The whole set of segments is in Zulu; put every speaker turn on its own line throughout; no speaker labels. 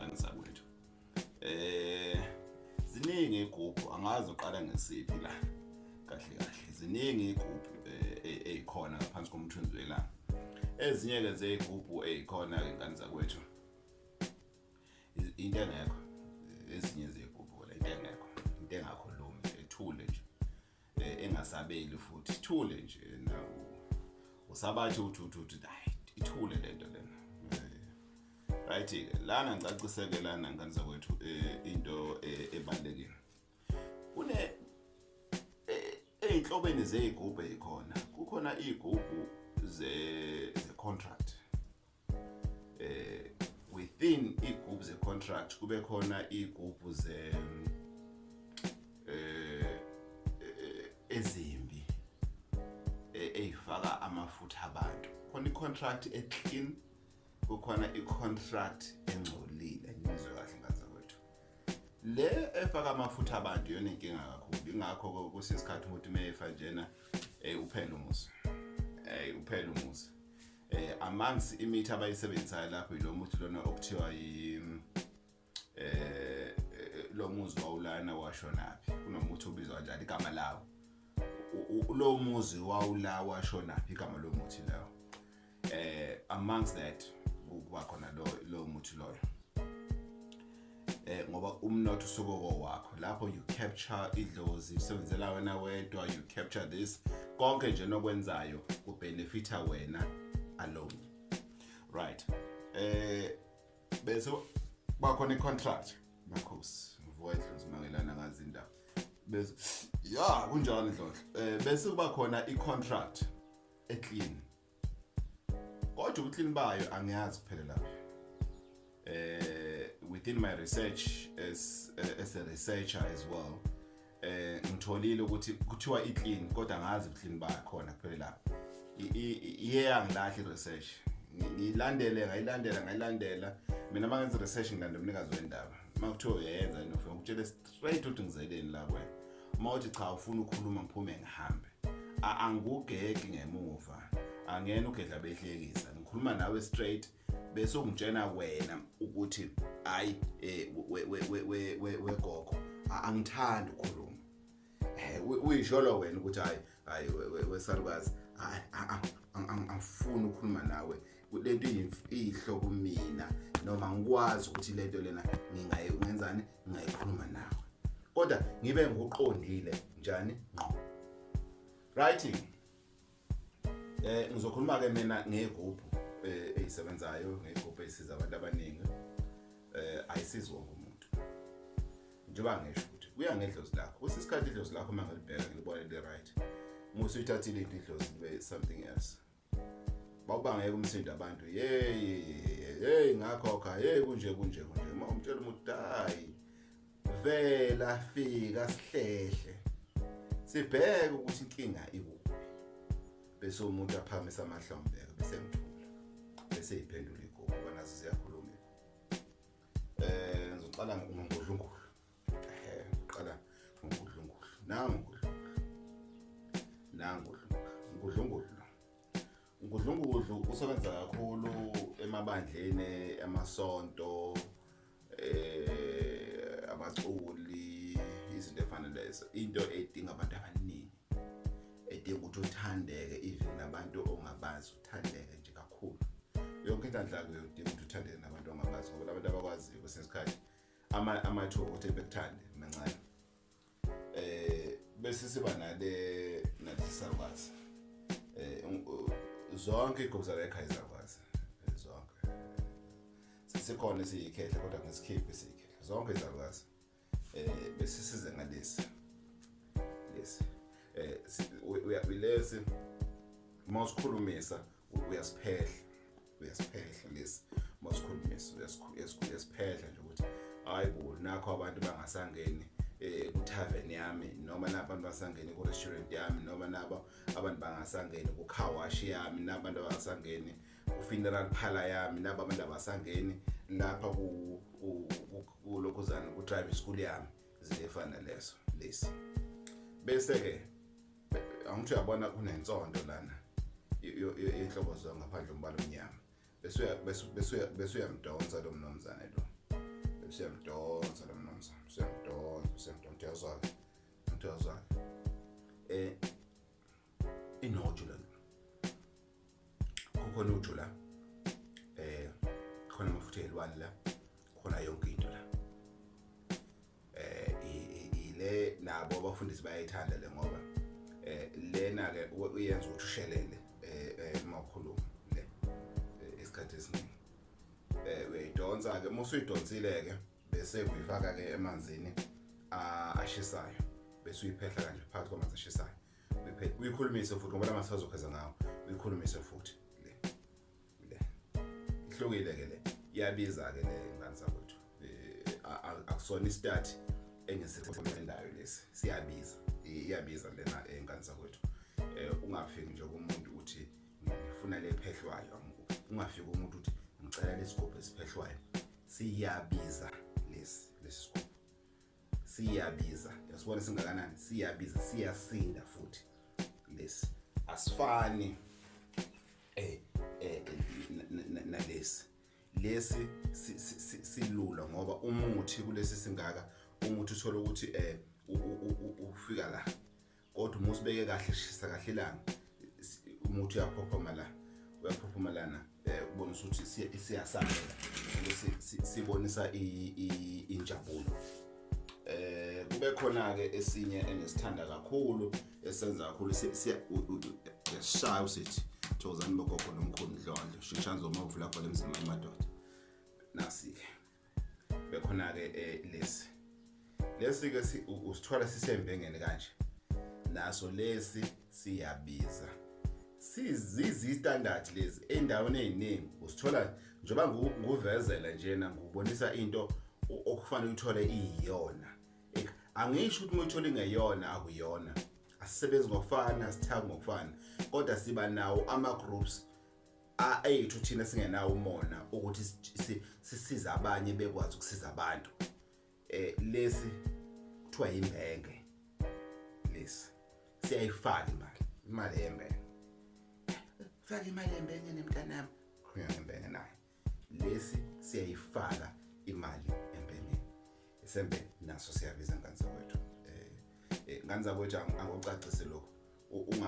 angisakwethu eh ziningi igubhu angazi uqala ngesiphi la kahle kahle ziningi igubhu ezikhona eh, e, ngaphansi komthunzi welanga ezinye ke zeyigubhu ezikhona ke ngani zakwethu into engekho ezinye zeyigubhu la into engekho into engakhulumi ethule nje eh, engasabeli futhi ithule nje na usabathi uthi uthi uthi hayi ithule lento lena eh, right ke lana ngicaciseke lana ngane zakwethu eh, into ebalekile kune ezinhlobeni zezigubhu ezikhona kukhona izigubhu ze contract eh within igroup ze contract kube khona igroup ze eh, eh ezimbi eh, eyifaka amafutha abantu khona i contract e clean kukhona i contract engcolile ngizwe kahle ngaza kwethu le efaka amafutha abantu yona inkinga kakhulu ingakho kusesikhathi umuntu meyefa njena eh uphela umusa eh uphela umusa eh amanzi imithi abayisebenzisayo lapho yilo muthi lona okuthiwa yi mm, eh, eh lo muzi wawulana washonaphi kunomuthi ubizwa kanjani igama lawo lo muzi wawula washonaphi igama lo muthi lawo eh amongst that kuba khona lo lo muthi loyo eh ngoba umnotho usoboko wakho lapho you capture idlozi usebenzela wena wedwa you capture this konke nje nokwenzayo kubenefita wena alone right eh bese bakhona icontract makhosi mfowethu simangelana ngazi indaba bese ya kunjalo ndlodlo eh bese kuba khona icontract eclean kodwa ubuklini bayo angiyazi kuphela lapho eh within my research as uh, as a researcher as well eh ngitholile ukuthi kuthiwa iclean kodwa ngazi ubuklini bayo khona kuphela lapho iyeyangilahle research ngilandele ngayilandela ngayilandela mina mangenza research ngilandela umnikazi wendaba uma kuthiwa uyayenza nofuna ukutshela Straight uthi ngizeleni la kwena. Uma uthi cha ufuna ukukhuluma ngiphume ngihambe. A- Angikugeki ngemuva. Angena ugedla behlekisa. Ngikhuluma nawe straight bese ungitshena wena ukuthi hayi eh, we we we we we- we gogo a- angithandi ukukhuluma. Eh, u- uyisholo wena ukuthi hayi hayi wesalukazi angifuni ukukhuluma nawe lento iyihlo kumina noma ngikwazi ukuthi lento lena ngingayenzani ngingayikhuluma nawe kodwa ngibe ngoqondile njani ngqo right eh ngizokhuluma ke mina ngegroup eh, eyisebenzayo ngegroup esiza abantu abaningi eh ayisizi wonke umuntu njengoba ngisho ukuthi kuya ngedlozi lakho kwesinye isikhathi idlozi lakho uma ngilibheka ngilibone li-right uma usuyithathile into idlozi libe something else bawubangeka umsindo abantu yeyi ngakhokha yeyi kunje kunje kunje uma umtshela umuthi hayi vela fika sihlehle sibheke ukuthi inkinga ikuphi bese umuntu aphakamisa amahlombe bese ngithula bese iphendula igogo banazo ziyakhuluma Eh ngizoqala ngokudlungulu. Eh qala ngokudlungulu. Nangu ngokudlungulu. Nangu ngokudlungulu. Ngudlungudlu usebenza kakhulu emabandleni amasonto eh abaculi izinto efana lezo into edinga abantu abaningi edinga ukuthi uthandeke even nabantu ongabazi uthandeke nje kakhulu yonke into andlako uyodinga ukuthi uthandeke nabantu ongabazi ngoba labantu abakwaziyo kwesinye isikhathi amathuba ukuthi bekuthande mancane eh bese siba nale nalisakwazi eh zonke igobza la ekhaya zakwazi eh, zonke sisikhona siyikhehla kodwa ngesikhiphi siyikhehla zonke izalwazi eh bese size ngalesi lesi eh uyabulesi uma usikhulumisa uyasiphehla uyasiphehla lesi uma usikhulumisa uyasiphehla nje ukuthi hayi bo nakho abantu bangasangeni eh kutavern yami noma nabo abantu basangene ku restaurant yami noma nabo abantu bangasangene ku car wash yami nabantu abasangene ku funeral parlor yami nabo abantu abasangene lapha ku kulokhuzana kutribe school yami ziyefana leso lesi bese ke angithi uyabona kunensonto lana inhlobo zona ngaphandle umbala omnyama bese bese bese uyamdonsa lo mnomzane lo bese uyamdonsa lo mnomzane bese uyamdonsa bese uyamdonsa uyazwa uyazwa eh inoju lona kukhona uju la eh khona amafutha elwane la khona yonke into la eh ile nabo abafundisi bayayithanda le ngoba eh lena ke uyenza ukuthi ushelele eh, eh uma ukhuluma le eh, isikhathi esiningi eh uyidonsa ke uma usuyidonsile ke bese uyifaka ke emanzini ashisayo bese uyiphehla kanje phakathi kwamanzi ashisayo uyikhulumise futhi ngoba lamanzi azokheza ngawo uyikhulumise futhi le le ihlukile ke le iyabiza ke le ngani sakwethu eh, akusona istart engisithendayo lesi siyabiza iyabiza lena eh, ngani sakwethu eh, ungafiki nje kumuntu uthi ngifuna lephehlwayo ungafiki umuntu uthi ngicela lesigubhu esiphehlwayo siyabiza lesi lesi sigubhu siyabiza yasibona singakanani siyabiza siyasinda futhi lesi asifani eh eh nalesi lesi silula ngoba umuthi kulesi singaka umuthi uthola ukuthi eh ufika la kodwa uma usibeke kahle shisa kahle ilanga umuthi uyaphophoma la uyaphophoma lana um eh, ubona ukuthi siyasabela sibonisa injabulo eh kube khona ke esinye engisithanda kakhulu esenza kakhulu siyashaya usithi thokozani bogogo nomkhulu ndlondlo shishani zoma uvula khona emzini wamadoda nasi-ke bekhona ke eh, lesi lesi ke usithwala sisembengeni kanje naso lesi siyabiza sizizi standard lezi endaweni eziningi usithola njoba nguvezela njena ngubonisa into okufanele uthole iyiyona angisho ukuthi muyithola ingeyona akuyona asisebenzi ngokufana sithaka ngokufana kodwa siba nawo ama groups ayethu thina singenawo umona ukuthi sisiza abanye bekwazi ukusiza abantu eh lesi kuthiwa yimbenge lesi siyayifaka imali imali yembenge faka imali yembenge nemntanami khona ngembenge naye lesi siyayifaka imali embengeni isembe naso siyabiza nganza kwethu eh, eh nganza kwethu angocacise lokho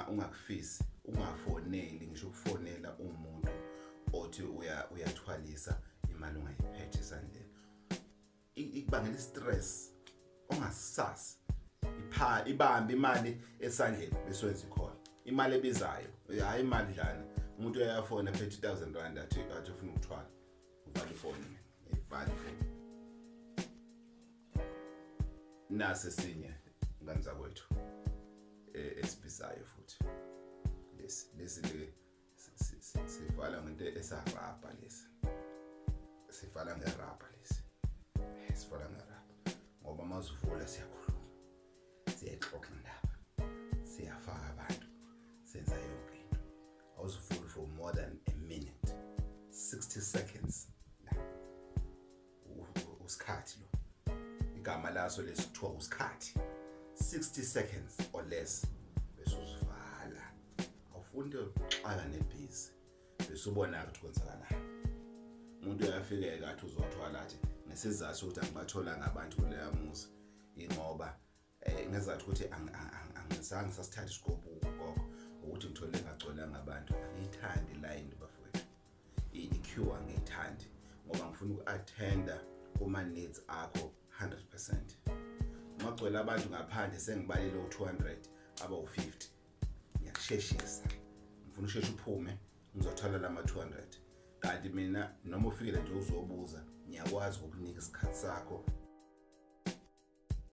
ungakufisi ungafoneli ngisho ukufonela umuntu othi uyathwalisa imali ungayiphethe esandleni ikubangela i-stress ongasisasi ipha ibambe imali esandleni bese wenza ikhona imali ebizayo hayi imali dlana umuntu uyafona phethe 1000 rand athi athi ufuna ukuthwala uvale ifoni ivale ifoni nase sinye ngani zakwethu e, esibizayo futhi lesi lesi le sivala ngento esarabha lesi sivala ngerabha lesi sivala ngerabha ngoba uma uzivula siyakhuluma siyayixoxa indaba siyafaka abantu senza yonke into awuzivuli for more than a minute 60 seconds usikhathi lo igama laso lesithiwa usikhathi 60 seconds or less bese uzivala awufuni into yokuxaka nebhizi bese ubona ukuthi kwenzakalani umuntu uyafikeka athi uzothwala athi ngesizathu sokuthi angibatholanga abantu kuleya muzi ingoba eh ngezathu ukuthi angizange sasithatha isigubhu gogo ukuthi ngithole ngagcwelanga abantu angiyithandi line bafowethu i-cure angiyithandi ngoba ngifuna uku-attenda kuma-needs akho 100 percent uma gcwele abantu ngaphandle sengibalile u-200 abawu-50 ngiyakusheshisa ngifuna usheshe uphume ngizothola la ma-200 kanti mina noma ufikile nje uzobuza ngiyakwazi ukukunika isikhathi sakho